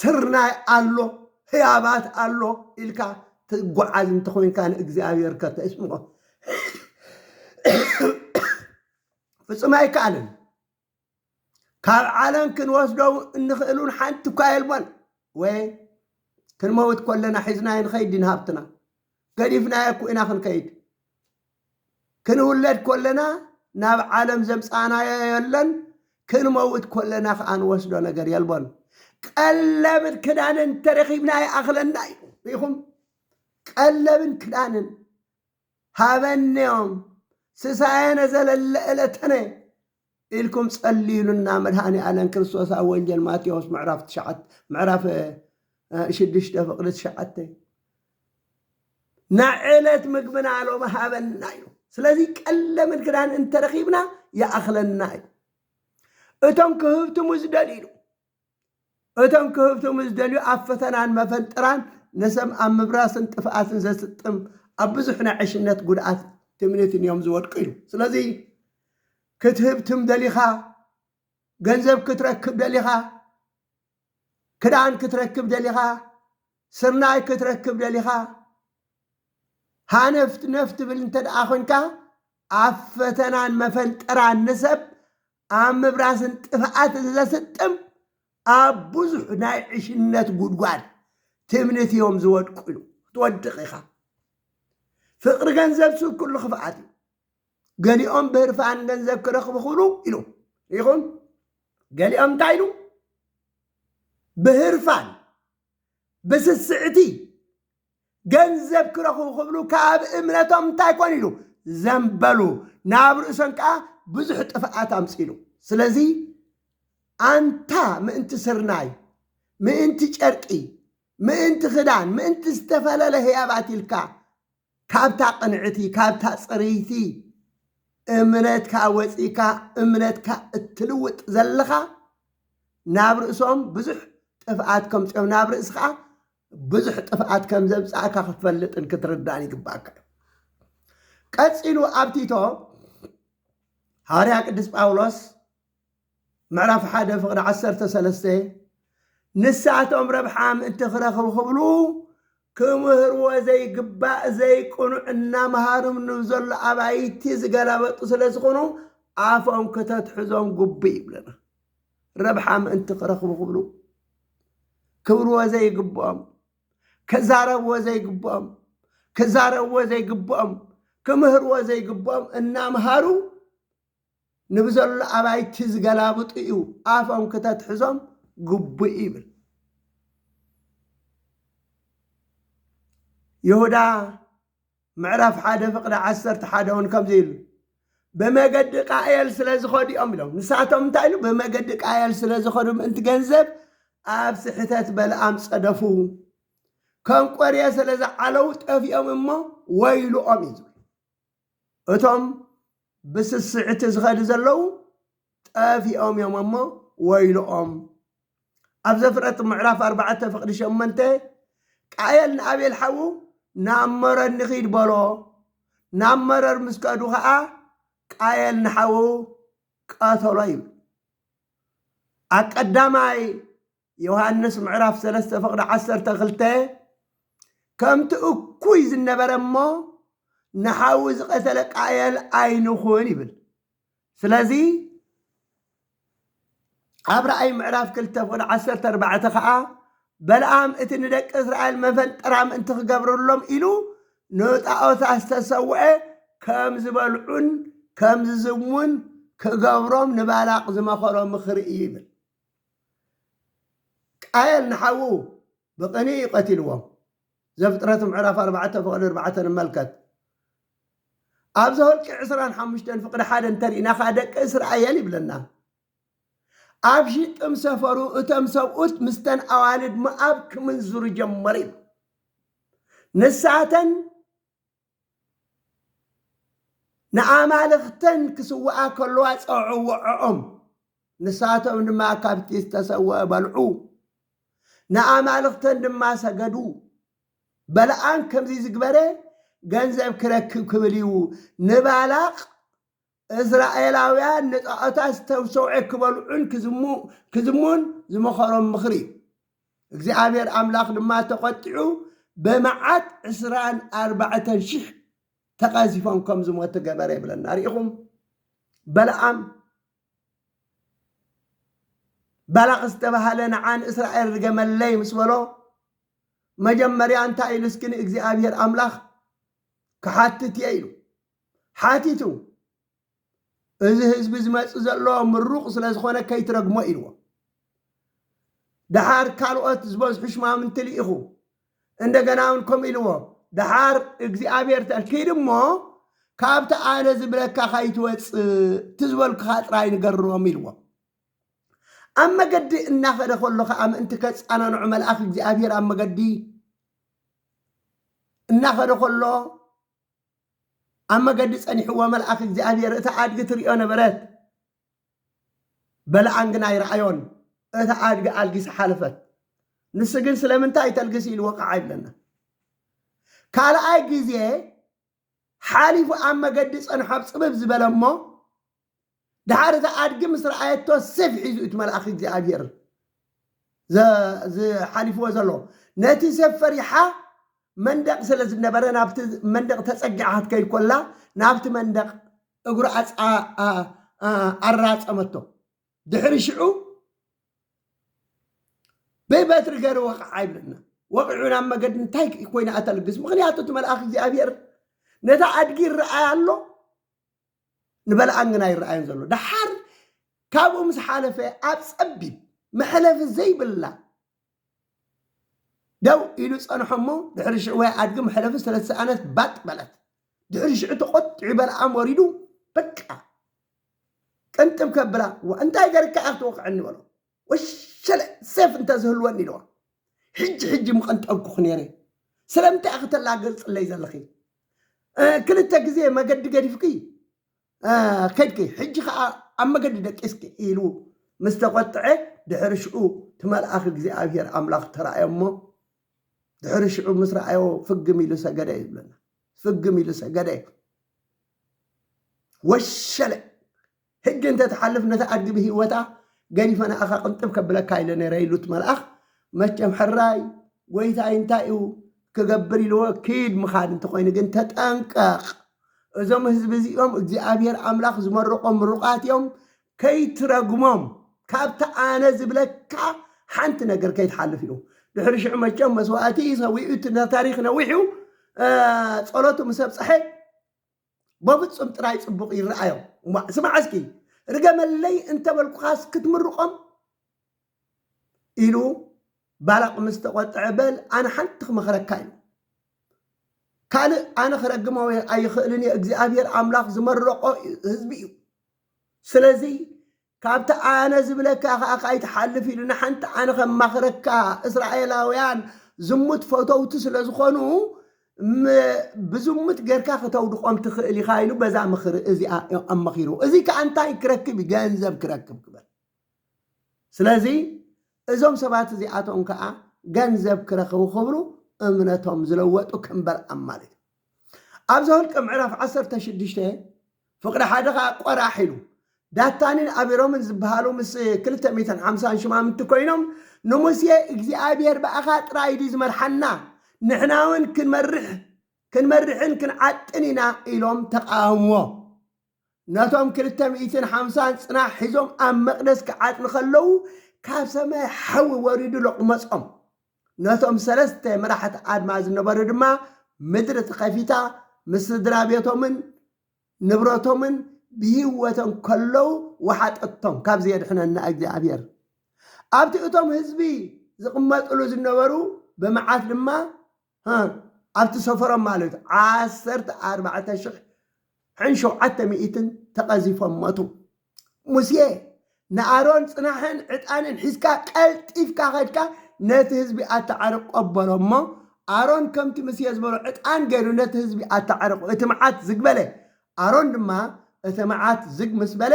ስርናይ ኣሎ፣ ህያባት ኣሎ ኢልካ ትጓዓዝ እንተኾይንካ ንእግዚኣብሔር ከተስምዖ ፍጹም ኣይከኣልን። ካብ ዓለም ክንወስዶ እንኽእሉን ሓንቲ እኳ የልቦን። ወይ ክንመውት ኮለና ሒዝናዮ ንኸይድ ዲን ሃብትና ገዲፍናዮ እኮ ኢና ክንከይድ ክንውለድ ኮለና ናብ ዓለም ዘምጻእናዮ የለን፣ ክንመውት ኮለና ከኣ ንወስዶ ነገር የልቦን። ቀለብን ክዳንን እንተረኺብና ይኣኽለና እዩ። ርኢኹም? ቀለብን ክዳንን ሃበንዮም ስሳየነ ዘለለ እለተነ ኢልኩም ጸልዩልና መድሃኒኣለም ክርስቶስ ኣብ ወንጀል ማቴዎስ ምዕራፍ ትሽዓተ ምዕራፍ ሽዱሽተ ፍቅዲ ትሽዓተ ናዕለት ምግብና ሎም ሃበና እዩ ስለዚ ቀለምን ክዳን እንተረኺብና ይኣኽለና እዩ እቶም ክህብትሙ ዝደልዩ እቶም ክህብትሙ ዝደልዩ ኣብ ፈተናን መፈንጥራን ንሰም ኣብ ምብራስን ጥፍኣትን ዘስጥም ኣብ ብዙሕ ናይ ዕሽነት ጉድኣት ትምኒትን እዮም ዝወድቁ ኢሉ። ስለዚ ክትህብትም ደሊኻ፣ ገንዘብ ክትረክብ ደሊኻ፣ ክዳን ክትረክብ ደሊኻ፣ ስርናይ ክትረክብ ደሊኻ፣ ሃነፍት ነፍ ትብል እንተ ደኣ ኮንካ ኣብ ፈተናን መፈንጥራን ንሰብ ኣብ ምፍራስን ጥፍኣትን ዘስጥም ኣብ ብዙሕ ናይ ዕሽነት ጉድጓድ ትምኒት እዮም ዝወድቁ ኢሉ ክትወድቕ ኢኻ ፍቕሪ ገንዘብ ስብ ኩሉ ክፍኣት እዩ ገሊኦም ብህርፋን ገንዘብ ክረኽቡ ክብሉ ኢሉ ይኹን ገሊኦም እንታይ ኢሉ ብህርፋን ብስስዕቲ ገንዘብ ክረኽቡ ክብሉ ካብ እምነቶም እንታይ ኮን ኢሉ ዘንበሉ ናብ ርእሶም ከዓ ብዙሕ ጥፍኣት ኣምፂሉ ስለዚ ኣንታ ምእንቲ ስርናይ ምእንቲ ጨርቂ ምእንቲ ክዳን ምእንቲ ዝተፈለለ ህያባት ኢልካ ካብታ ቅንዕቲ ካብታ ፅርይቲ እምነትካ ወፂእካ እምነትካ እትልውጥ ዘለኻ ናብ ርእሶም ብዙሕ ጥፍኣት ከምፅኦም ናብ ርእሲ ከዓ ብዙሕ ጥፍኣት ከም ዘምጻእካ ክትፈልጥን ክትርዳእን ይግባእካ እዩ። ቀጺሉ ኣብ ቲቶ ሃዋርያ ቅዱስ ጳውሎስ ምዕራፍ ሓደ ፍቕዲ ዓሰርተ ሰለስተ ንሳቶም ረብሓ ምእንቲ ክረኽቡ ክብሉ ክምህርዎ ዘይግባእ ዘይቅኑዕ እናምሃርም ንዘሎ ኣባይቲ ዝገላበጡ ስለ ዝኾኑ ኣፎም ክተትሕዞም ግቡእ ይብለና ረብሓ ምእንቲ ክረኽቡ ክብሉ ክብልዎ ዘይግብኦም ክዛረብዎ ዘይግብኦም ክዛረብዎ ዘይግብኦም ክምህርዎ ዘይግብኦም እናምሃሩ ንብዘሎ ኣባይቲ ዝገላብጡ እዩ ኣፎም ክተትሕዞም ግቡእ ይብል ይሁዳ ምዕራፍ ሓደ ፍቕዲ ዓሰርተ ሓደ እውን ከምዚ ኢሉ ብመገዲ ቃኤል ስለ ዝኸዱ እዮም ኢሎም ንሳቶም እንታይ ኢሉ ብመገዲ ቃኤል ስለ ዝኸዱ ምእንቲ ገንዘብ ኣብ ስሕተት በልኣም ጸደፉ ከም ቆርየ ስለ ዝዓለው ጠፊኦም እሞ ወይልኦም እዩ ዝብል እቶም ብስስዕቲ ዝኸዱ ዘለው ጠፊኦም እዮም ኣሞ ወይልኦም። ኣብ ዘፍረጥ ምዕራፍ ኣርባዕተ ፍቕዲ ሸመንተ ቃየል ንኣቤል ሓዉ ናብ መረር ንኺድ በሎ። ናብ መረር ምስ ከዱ ኸኣ ቃየል ንሓዉ ቀተሎ ይብል። ኣብ ቀዳማይ ዮሃንስ ምዕራፍ ሰለስተ ፍቕዲ ዓሰርተ ክልተ ከምቲ እኩይ ዝነበረ እሞ ንሓዉ ዝቐተለ ቃየል ኣይንኹን ይብል ስለዚ ኣብ ራእይ ምዕራፍ ክልተ ፍቕዲ ዓሰርተ ኣርባዕተ ከዓ በልኣም እቲ ንደቂ እስራኤል መፈንጠራ ምእንቲ ክገብርሎም ኢሉ ንጣዖታት ዝተሰውዐ ከም ዝበልዑን ከም ዝዝሙን ክገብሮም ንባላቅ ዝመኸሮ ምኽሪ እዩ ይብል ቃየል ንሓዉ ብቕንኢ እዩ ቀቲልዎም። ዘፍጥረት ምዕራፍ ኣርባዕተ ፍቕዲ ኣርባዕተ ንመልከት። ኣብ ዘኍልቍ ዕስራን ሓሙሽተን ፍቕዲ ሓደ እንተ ርኢና ኸኣ ደቂ እስራኤል ይብለና። ኣብ ሺጥም ሰፈሩ እቶም ሰብኡት ምስተን ኣዋልድ ሞኣብ ክምንዝሩ ጀመሩ ይብል። ንሳተን። ንኣማልኽተን ክስውኣ ከለዋ ጸውዕወዐኦም፣ ንሳቶም ድማ ካብቲ ዝተሰውአ በልዑ፣ ንኣማልኽተን ድማ ሰገዱ። በለዓም ከምዚ ዝግበረ ገንዘብ ክረክብ ክብል እዩ ንባላቅ እስራኤላውያን ንጣዖታት ዝተብሰውዔ ክበልዑን ክዝሙን ዝመኸሮም ምኽሪ እዩ። እግዚኣብሔር ኣምላኽ ድማ ተቖጢዑ በመዓት ዕስራን ኣርባዕተን ሽሕ ተቐዚፎም ከም ዝሞቱ ገበረ ይብለና ርኢኹም በለኣም ባላቕ ዝተባሃለ ንዓ ንእስራኤል ርገመለይ ምስ በሎ መጀመርያ እንታይ ኢሉ እስኪ ንእግዚኣብሔር ኣምላኽ ክሓትት እየ ኢሉ ሓቲቱ እዚ ህዝቢ ዝመፅእ ዘሎ ምሩቕ ስለ ዝኾነ ከይትረግሞ ኢልዎ። ደሓር ካልኦት ዝበዝሑ ሽማምንቲ ልኢኹ። እንደገና እውን ከምኡ ኢልዎ። ደሓር እግዚኣብሔር ተ- ኪድ እሞ ካብቲ ኣነ ዝብለካ ካይትወፅእ እቲ ዝበልኩኻ ጥራይ ንገሮም ኢልዎ። ኣብ መገዲ እናኸደ ከሎ ከዓ ምእንቲ ከፃናንዑ መልኣኽ እግዚኣብሔር ኣብ መገዲ እናኸደ ከሎ ኣብ መገዲ ጸኒሕዎ መልኣኽ እግዚኣብሔር እታ ኣድጊ ትርእዮ ነበረት። በለዓም ግን ኣይረኣዮን። እታ ኣድጊ ኣልጊሳ ሓለፈት። ንሱ ግን ስለምንታይ ተልግሲ ኢሉ ወቃዕ ኣይብለና። ካልኣይ ግዜ ሓሊፉ ኣብ መገዲ ጸንሖ ኣብ ጽብብ ዝበለ እሞ ደሓር እታ ኣድጊ ምስ ረኣየቶ ሴፍ ሒዙ እዩ እቲ መልኣኽ እግዚኣብሄር ዘ- ዝ- ሓሊፍዎ ዘሎ ነቲ ሴፍ ፈሪሓ መንደቕ ስለ ዝነበረ ናብቲ መንደቕ ተጸጊዓ ክትከይድ ኮላ ናብቲ መንደቕ እግሩ ኣጽ- ኣ- ኣ- ኣ- ኣራጸመቶ ድሕሪ ሽዑ ብበትሪ ገይሩ ወቕዓ ይብለና ወቂዑ ናብ መገዲ እንታይ ኮይና እተልግስ ምክንያቱ እቲ መልኣኽ እግዚኣብሄር ነታ ኣድጊ ይረኣያ ኣሎ ንበልኣን ግን ኣይረኣዮን ዘሎ። ደሓር ካብኡ ምስ ሓለፈ ኣብ ጸቢብ መሕለፊ ዘይብላ ደው ኢሉ ጸንሖ እሞ ድሕሪ ሽዑ ወይ ኣድጊ መሕለፊ ስለዝሰኣነት ባጥ በለት። ድሕሪ ሽዑ ተቖጢዑ በልኣም ወሪዱ በቃ ቅንጥብ ከብላ እንታይ ገርካ ክትወቕዐኒ በሎ። ወሸለ ሴፍ እንተዝህልወኒ ኢልዋ ሕጂ ሕጂ ምቐንጠብኩኺ ነይረ ስለምንታይ ኢኺ ተላግጽለይ ዘለኺ እ፣ ክልተ ግዜ መገዲ ገዲፍኪ እ፣ ከድኪ ሕጂ ከኣ ኣብ መገዲ ደቂስኪ ኢሉ ምስ ተቖጥዐ ድሕሪ ሽዑ እቲ መልኣኽ እግዚኣብሄር ኣምላኽ ተራእዮ እሞ ድሕሪ ሽዑ ምስ ረኣዮ ፍግም ኢሉ ሰገደ እዩ ዝብለና ፍግም ኢሉ ሰገደ እዩ ወሸለ ሕጂ እንተ ትሓልፍ ነታ ኣድጊ ብህይወታ ገዲፈ ንኣኻ ቅንጥብ ከብለካ ኢለ ነይረ ኢሉ እቲ መልኣኽ መቸም ሕራይ ጎይታይ እንታይ እዩ ክገብር ኢልዎ ኪድ ምኻድ እንተኾይኑ ግን ተጠንቀቕ እዞም ህዝቢ እዚኦም እግዚኣብሔር ኣምላኽ ዝመረቖም ምሩቓት እዮም ከይትረግሞም ካብቲ ኣነ ዝብለካ ሓንቲ ነገር ከይትሓልፍ ኢሉ ድሕሪ ሽዑ መቸም መስዋእቲ ሰዊኡ እቲ ታሪክ ነዊሕ እዩ ጸሎቱ ምስ ኣብፀሐ በፍጹም ጥራይ ጽቡቕ ይረኣዮም። እዋእ ስማዕ እስኪ ርገመለይ እንተ በልኩኻስ ክትምርቖም? ኢሉ ባላቕ ምስ ተቖጥዐ በል ኣነ ሓንቲ ክመኽረካ ኢሉ ካልእ ኣነ ክረግሞ ኣይኽእልን እየ እግዚኣብሔር ኣምላኽ ዝመረቆ ህዝቢ እዩ ስለዚ ካብቲ ኣነ ዝብለካ ኸኣ ካይትሓልፍ ኢሉ ንሓንቲ ኣነ ከማኽረካ እስራኤላውያን ዝሙት ፈተውቲ ስለ ዝኾኑ ም- ብዝሙት ጌርካ ከተውድቖም ትኽእል ኢኻ ኢሉ በዛ ምኽሪ እዚኣ እዩ ኣማኺርዎ እዚ ከኣ እንታይ ክረክብ እዩ ገንዘብ ክረክብ ክበል ስለዚ እዞም ሰባት እዚኣቶም ከኣ ገንዘብ ክረኽቡ ክብሉ እምነቶም ዝለወጡ ከምበር ኣማልድ ኣብ ዘሁልቂ ምዕራፍ ዓሰርተ ሽዱሽተ ፍቕዲ ሓደ ከኣ ቆራሕ ኢሉ ዳታንን ኣቢሮምን ዝበሃሉ ምስ ክልተ ሚእትን ሓምሳን ሽማምንቲ ኮይኖም ንሙሴ እግዚኣብሔር ብኣኻ ጥራይ ድዩ ዝመርሓና ንሕና እውን ክንመርሕ ክንመርሕን ክንዓጥን ኢና ኢሎም ተቃወምዎ። ነቶም ክልተ ሚእትን ሓምሳን ጽናሕ ሒዞም ኣብ መቕደስ ክዓጥኑ ከለዉ ካብ ሰማይ ሓዊ ወሪዱ ሎቕመጾም። ነቶም ሰለስተ መራሕቲ ኣድማ ዝነበሩ ድማ ምድሪ ተኸፊታ ምስ ስድራ ቤቶምን ንብረቶምን ብሂወቶም ከለዉ ወሓጠቶም ካብዚ የድሕነና እግዚኣብሔር። ኣብቲ እቶም ህዝቢ ዝቕመጥሉ ዝነበሩ ብመዓት ድማ ሀህ ኣብቲ ሰፈሮም ማለት እዩ ዓሰርተ ኣርባዕተ ሽሕ ሕን ሸውዓተ ሚኢትን ተቐዚፎም ሞቱ። ሙሴ ንኣሮን ጽናሕን ዕጣንን ሒዝካ ቀልጢፍካ ከድካ ነቲ ህዝቢ ኣተዓርቆ በሎ እሞ ኣሮን ከምቲ ሙሴ ዝበሎ ዕጣን ገይሩ ነቲ ህዝቢ ኣተዓርቆ እቲ መዓት ዝግበለ ኣሮን ድማ እቲ መዓት ዝግ ምስ በለ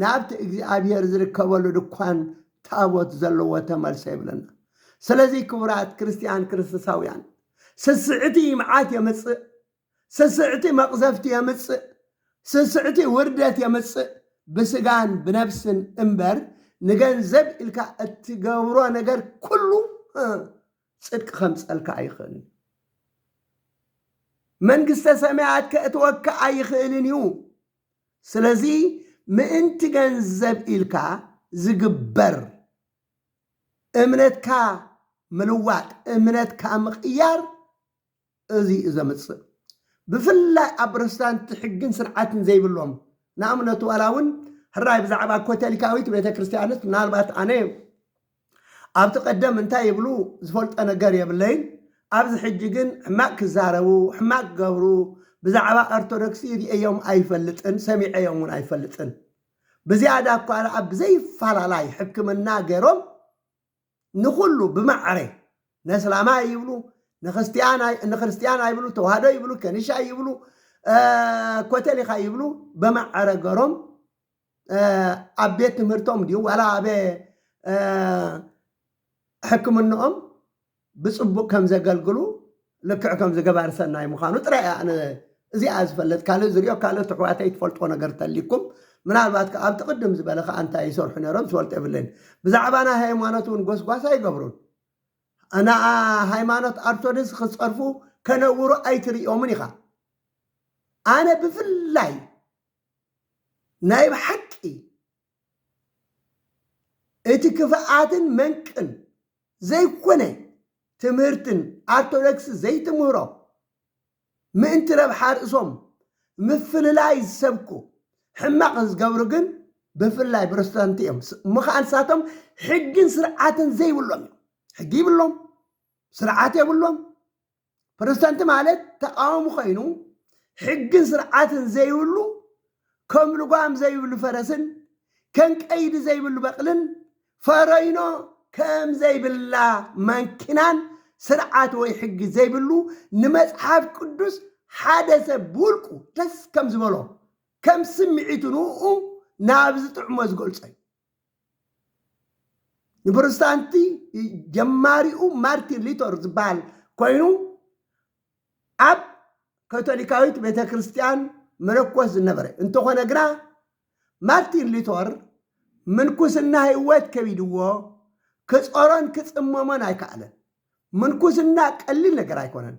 ናብቲ እግዚኣብሄር ዝርከበሉ ድኳን ታቦት ዘለዎ ተመልሰ ይብለና። ስለዚ ክቡራት ክርስትያን ክርስቶሳውያን ስስዕቲ መዓት የምጽእ፣ ስስዕቲ መቕዘፍቲ የምጽእ፣ ስስዕቲ ውርደት የምጽእ፣ ብስጋን ብነብስን እምበር ንገንዘብ ኢልካ እትገብሮ ነገር ኩሉ ጽድቂ ከምጸልካ ኣይኽእልን መንግስተ ሰማያት ከእትወካ ኣይኽእልን እዩ ስለዚ ምእንቲ ገንዘብ ኢልካ ዝግበር እምነትካ ምልዋጥ እምነትካ ምቕያር እዚ እዩ ዘምጽእ። ብፍላይ ኣብ ፕሮቴስታንት ሕግን ስርዓትን ዘይብሎም ንኣብነት ዋላ እውን ሕራይ ብዛዕባ ኮተሊካዊት ቤተ ክርስቲያንስ ምናልባት ኣነ ኣብቲ ቀደም እንታይ ይብሉ ዝፈልጦ ነገር የብለይን ኣብዚ ሕጂ ግን ሕማቅ ክዛረቡ ሕማቅ ክገብሩ ብዛዕባ ኦርቶዶክሲ ርእዮም ኣይፈልጥን ሰሚዐዮም እውን ኣይፈልጥን ብዝያዳ እኳ ደኣ ብዘይፋላላይ ሕክምና ገይሮም ንኹሉ ብማዕረ ነስላማይ ይብሉ ንክርስትያን ኣይብሉ ተዋህዶ ይብሉ ከንሻ ይብሉ ኮተሊካ ይብሉ በማዕረ ገሮም ኣብ ቤት ትምህርቶም ድዩ ዋላ ኣበ ሕክምንኦም ብፅቡቅ ከም ዘገልግሉ ልክዕ ከምዚ ገባሪ ሰናይ ምዃኑ ጥራይ እየ ኣነ እዚኣ ዝፈልጥ ካልእ ዝሪኦ ካልኦት ኣሕዋተይ ትፈልጥዎ ነገር ተልይኩም ምናልባት ከኣ ኣብቲ ቅድም ዝበለ ከኣ እንታይ ይሰርሑ ነይሮም ዝፈልጦ የብለይን ብዛዕባ ናይ ሃይማኖት እውን ጎስጓስ ኣይገብሩን ንኣ ሃይማኖት ኣርቶድስ ክጸርፉ ከነውሩ ኣይትርእዮምን ኢኻ ኣነ ብፍላይ ናይ ብሓቂ እቲ ክፍኣትን መንቅን ዘይኮነ ትምህርትን ኣርቶደክስ ዘይትምህሮ ምእንቲ ረብሓ ርእሶም ምፍልላይ ዝሰብኩ ሕማቅ ዝገብሩ ግን ብፍላይ ብሮስተንቲ እዮም እሞ ከኣ ንሳቶም ሕግን ስርዓትን ዘይብሎም እዮም ሕጊ ይብሎም ስርዓት የብሎም ፕሮቴስታንት ማለት ተቃዋሚ ኮይኑ ሕግን ስርዓትን ዘይብሉ ከም ልጓም ዘይብሉ ፈረስን ከም ቀይዲ ዘይብሉ በቕልን ፈረይኖ ከም ዘይብላ ማንኪናን ስርዓት ወይ ሕጊ ዘይብሉ ንመጽሓፍ ቅዱስ ሓደ ሰብ ብውልቁ ደስ ከም ዝበሎ ከም ስምዒቱ ንኡ ናብ ዝጥዕሞ ዝገልጾ እዩ። ንፕሮቴስታንቲ ጀማሪኡ ማርቲን ሉተር ዝበሃል ኮይኑ ኣብ ካቶሊካዊት ቤተ ክርስቲያን መነኮስ ዝነበረ እንተኾነ ግና ማርቲን ሉተር ምንኩስና ህይወት ከቢድዎ ክጾሮን ክጽመሞን ኣይከኣለን። ምንኩስና ቀሊል ነገር ኣይኮነን።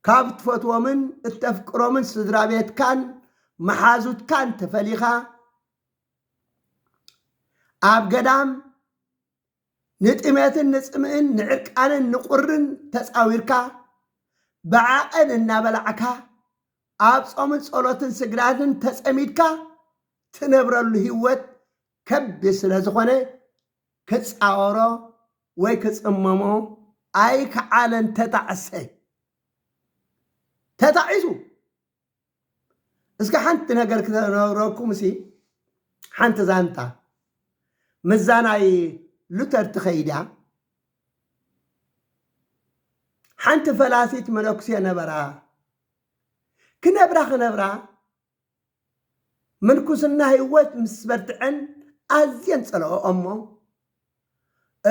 ካብ ትፈትዎምን እተፍቅሮምን ስድራ ቤትካን መሓዙትካን ተፈሊኻ ኣብ ገዳም ንጥሜትን ንጽምእን ንዕርቃንን ንቁርን ተጻዊርካ ብዓቐን እናበላዕካ ኣብ ጾምን ጸሎትን ስግዳድን ተጸሚድካ ትነብረሉ ህይወት ከቢድ ስለ ዝኾነ ክጻወሮ ወይ ክጽመሞ ኣይከኣለን ተጣዕሰ ተታዒሱ እስከ ሓንቲ ነገር ክነግረኩምሲ ሓንቲ ዛንታ ምዛ ናይ ሉተር ትኸይድያ ሓንቲ ፈላሲት መነኩሴ ነበራ ክነብራ ክነብራ ምንኩስና ህይወት ምስ በርትዐን ኣዝየን ጸለኦ እሞ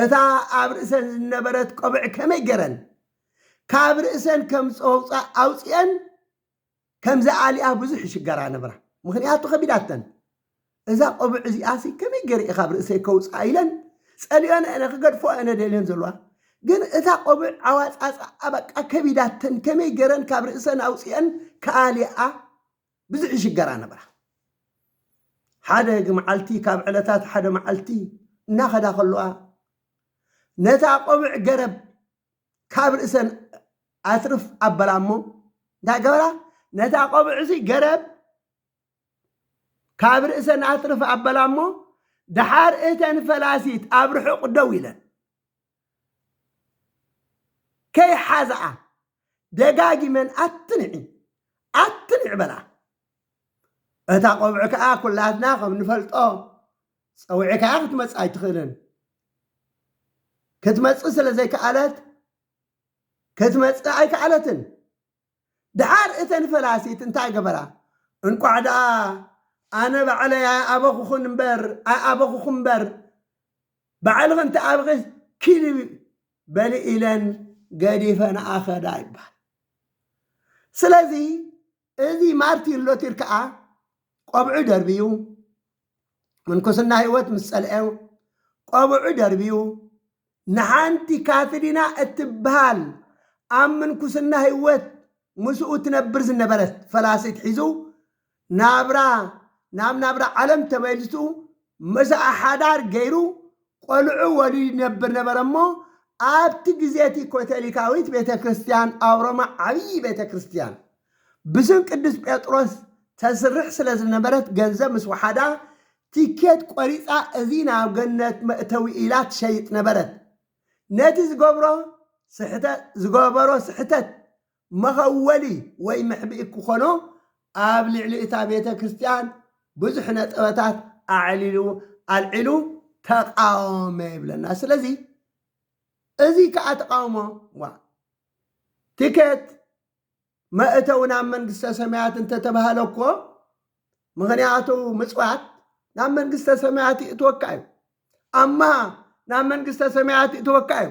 እታ ኣብ ርእሰን ዝነበረት ቆብዕ ከመይ ገረን ካብ ርእሰን ከም ጸውጻ ኣውጺኤን ከም ዝኣልያ ብዙሕ ይሽገራ ነብራ ምክንያቱ ከቢዳተን እዛ ቆብዕ እዚኣሲ ከመይ ገይረ ኢኻብ ርእሰይ ከውጽኣ ኢለን ጸልዮን እነ ክገድፎ እነ ደልዮን ዘለዋ ግን እታ ቆብዕ ኣዋጻጽኣ በቃ ከቢዳተን ከመይ ገይረን ካብ ርእሰን ኣውጺኤን ክኣልያ ብዙሕ ይሽገራ ነብራ ሓደ መዓልቲ ካብ ዕለታት ሓደ መዓልቲ እናኸዳ ከለዋ ነታ ቆብዕ ገረብ ካብ ርእሰን ኣትርፍ ኣበላ እሞ እንታይ ገበራ ነታ ቆብዕሲ ገረብ ካብ ርእሰን ኣትርፍ ኣበላ እሞ ደሓር እተን ፈላሲት ኣብ ርሑቕ ደው ኢለን ከይሓዝኣ ደጋጊመን ኣትንዒ ኣትንዕ በላ እታ ቆብዒ ከዓ ኩላትና ከም ንፈልጦ ጸዊዕካያ ክትመጽእ ኣይትኽእልን። ክትመጽእ ስለ ዘይከኣለት ክትመጽእ ኣይከኣለትን። ድሓር እተን ፈላሲት እንታይ ገበራ? እንቋዕ ደኣ ኣነ ባዕለይ ኣይኣበኹኹን እምበር ኣይኣበኹኹም እምበር ባዕልኽን ተኣብኺ ኪሊ በሊ ኢለን ገዲፈን ኣኸዳ ይባሃል። ስለዚ እዚ ማርቲን ሎቲር ከኣ ቆብዑ ደርብዩ ምንኩስና ህይወት ምስ ጸልኤው ቆብዑ ደርብዩ ንሓንቲ ካትሪና እትብሃል ኣብ ምንኩስና ህይወት ምስኡ ትነብር ዝነበረት ፈላሲት ሒዙ ናብራ ናብ ናብራ ዓለም ተመሊሱ ምስኣ ሓዳር ገይሩ ቈልዑ ወሊዱ ይነብር ነበረ እሞ፣ ኣብቲ ግዜ እቲ ኮቶሊካዊት ቤተ ክርስትያን ኣብ ሮማ ዓብዪ ቤተ ክርስትያን ብስም ቅዱስ ጴጥሮስ ተስርሕ ስለ ዝነበረት ገንዘብ ምስ ወሓዳ ቲኬት ቈሪጻ እዚ ናብ ገነት መእተዊ ኢላ ትሸይጥ ነበረት። ነቲ ዝገብሮ ስሕተት ዝገበሮ ስሕተት መኸወሊ ወይ መሕብኢ ክኾኖ ኣብ ልዕሊ እታ ቤተ ክርስቲያን ብዙሕ ነጠበታት ኣዕሊሉ ኣልዒሉ ተቃወመ ይብለና ስለዚ እዚ ከዓ ተቃውሞ ዋ ትኬት መእተው ናብ መንግስተ ሰማያት እንተተባህለ እኮ ምክንያቱ ምፅዋት ናብ መንግስተ ሰማያት ይእትወካ እዩ ኣማ ናብ መንግስተ ሰማያት ይእትወካ እዩ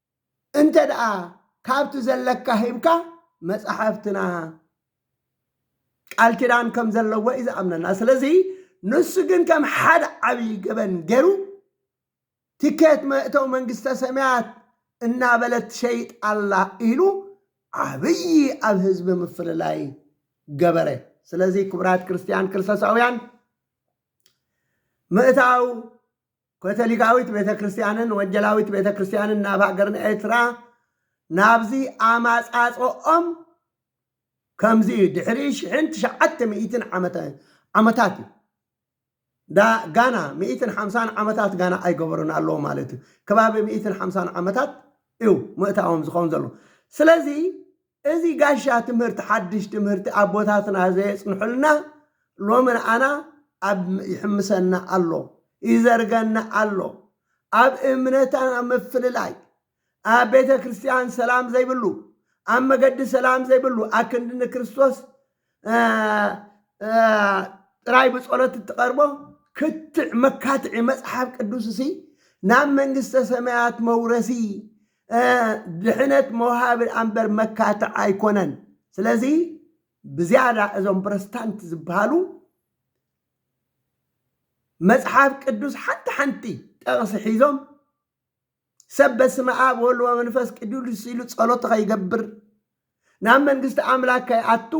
እንተ ደኣ ካብቲ ዘለካ ሂብካ መጻሕፍትና ቃል ኪዳን ከም ዘለዎ እዩ ዝኣምነና ስለዚ ንሱ ግን ከም ሓደ ዓብዪ ገበን ገይሩ ትኬት መእተው መንግስተ ሰማያት እናበለት ትሸይጥ ኣላ ኢሉ ዓብዪ ኣብ ህዝቢ ምፍልላይ ገበረ ስለዚ ክቡራት ክርስትያን ክርስቶሳውያን ምእታው ከቶሊካዊት ቤተ ክርስቲያንን ወጀላዊት ቤተ ክርስቲያንን ናብ ሃገርና ኤርትራ ናብዚ ኣማጻጽኦም ከምዚ እዩ ድሕሪ ሽሕን ትሽዓተ ሚእትን ዓመተ ዓመታት እዩ ዳ ጋና ሚእትን ሓምሳን ዓመታት ጋና ኣይገበሩን ኣለዎ ማለት እዩ ከባቢ ሚእትን ሓምሳን ዓመታት እዩ ምእታዎም ዝኸውን ዘሎ ስለዚ እዚ ጋሻ ትምህርቲ ሓድሽ ትምህርቲ ኣቦታትና ዘየጽንሑልና ሎሚ ንኣና ኣብ ይሕምሰና ኣሎ ይዘርገና ኣሎ ኣብ እምነታና ምፍልላይ ኣብ ቤተ ክርስቲያን ሰላም ዘይብሉ ኣብ መገዲ ሰላም ዘይብሉ ኣክንዲ ንክርስቶስ ጥራይ ብጸሎት እትቐርቦ ክትዕ መካትዒ መጽሓፍ ቅዱስ እሲ ናብ መንግስተ ሰማያት መውረሲ ድሕነት መውሃቢ ኣንበር መካትዕ ኣይኮነን ስለዚ ብዝያዳ እዞም ፕረስታንት ዝበሃሉ መጽሓፍ ቅዱስ ሓንቲ ሓንቲ ጠቕሲ ሒዞም ሰብ በስመ ኣብ ወወልድ ወመንፈስ ቅዱስ ኢሉ ጸሎት ኸይገብር ናብ መንግስቲ ኣምላክ ከይኣቱ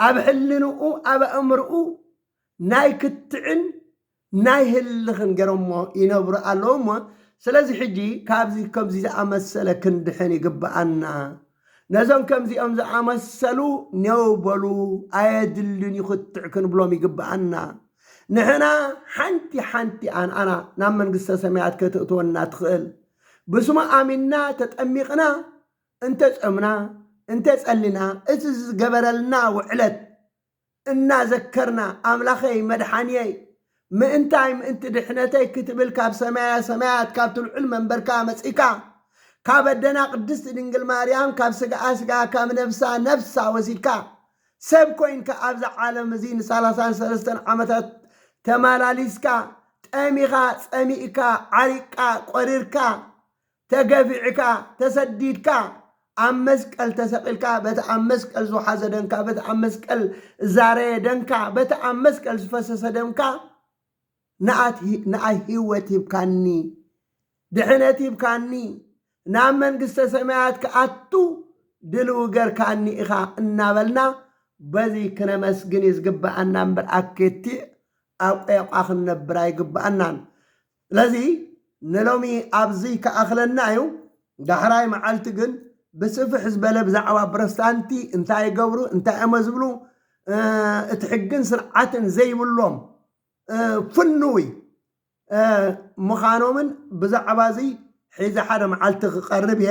ኣብ ሕልንኡ ኣብ ኣእምርኡ ናይ ክትዕን ናይ ህልኽን ገይሮሞ ይነብሩ ኣለዉ እሞ ስለዚ ሕጂ ካብዚ ከምዚ ዝኣመሰለ ክንድሕን ይግብኣና ነዞም ከምዚኦም ዝኣመሰሉ ኔው በሉ ኣየድልን ዩ ክትዕ ክንብሎም ይግበኣና። ንሕና ሓንቲ ሓንቲ ኣንኣና ናብ መንግስተ ሰማያት ከተእትወና ትኽእል ብስሙ ኣሚንና ተጠሚቕና እንተ ጾምና እንተ ጸሊና እቲ ዝገበረልና ውዕለት እናዘከርና ኣምላኸይ መድሓንየይ ምእንታይ ምእንቲ ድሕነተይ ክትብል ካብ ሰማየ ሰማያት ካብቲ ልዑል መንበርካ መጺእካ ካብ ኣደና ቅድስቲ ድንግል ማርያም ካብ ስጋኣ ስጋ ካብ ነፍሳ ነፍሳ ወሲድካ ሰብ ኮይንካ ኣብዚ ዓለም እዚ ንሳላሳን ሰለስተን ዓመታት ተማላሊስካ ጠሚኻ ጸሚእካ ዓሪቅቃ ቆሪርካ ተገፊዕካ፣ ተሰዲድካ፣ ኣብ መስቀል ተሰቒልካ፣ በቲ ኣብ መስቀል ዝወሓዘ ደንካ፣ በቲ ኣብ መስቀል ዝዛረየ ደንካ፣ በቲ ኣብ መስቀል ዝፈሰሰ ደምካ ንኣይ ህይወት ሂብካኒ፣ ድሕነት ሂብካኒ፣ ናብ መንግስተ ሰማያት ክኣቱ ድልው ገርካኒ ኢኻ እናበልና በዚ ክነመስግን እዩ ዝግብኣና እምበር ኣኬቲዕ ኣቆያቋ ክንነብር ኣይግብኣናን። ስለዚ ንሎሚ ኣብዙይ ክኣኽለና እዩ። ዳሕራይ መዓልቲ ግን ብስፍሕ ዝበለ ብዛዕባ ፕሮስታንቲ እንታይ ይገብሩ እንታይ እሞ ዝብሉ እቲ ሕግን ስርዓትን ዘይብሎም ፍንውይ ምዃኖምን ብዛዕባ እዙይ ሒዘ ሓደ መዓልቲ ክቐርብ እየ።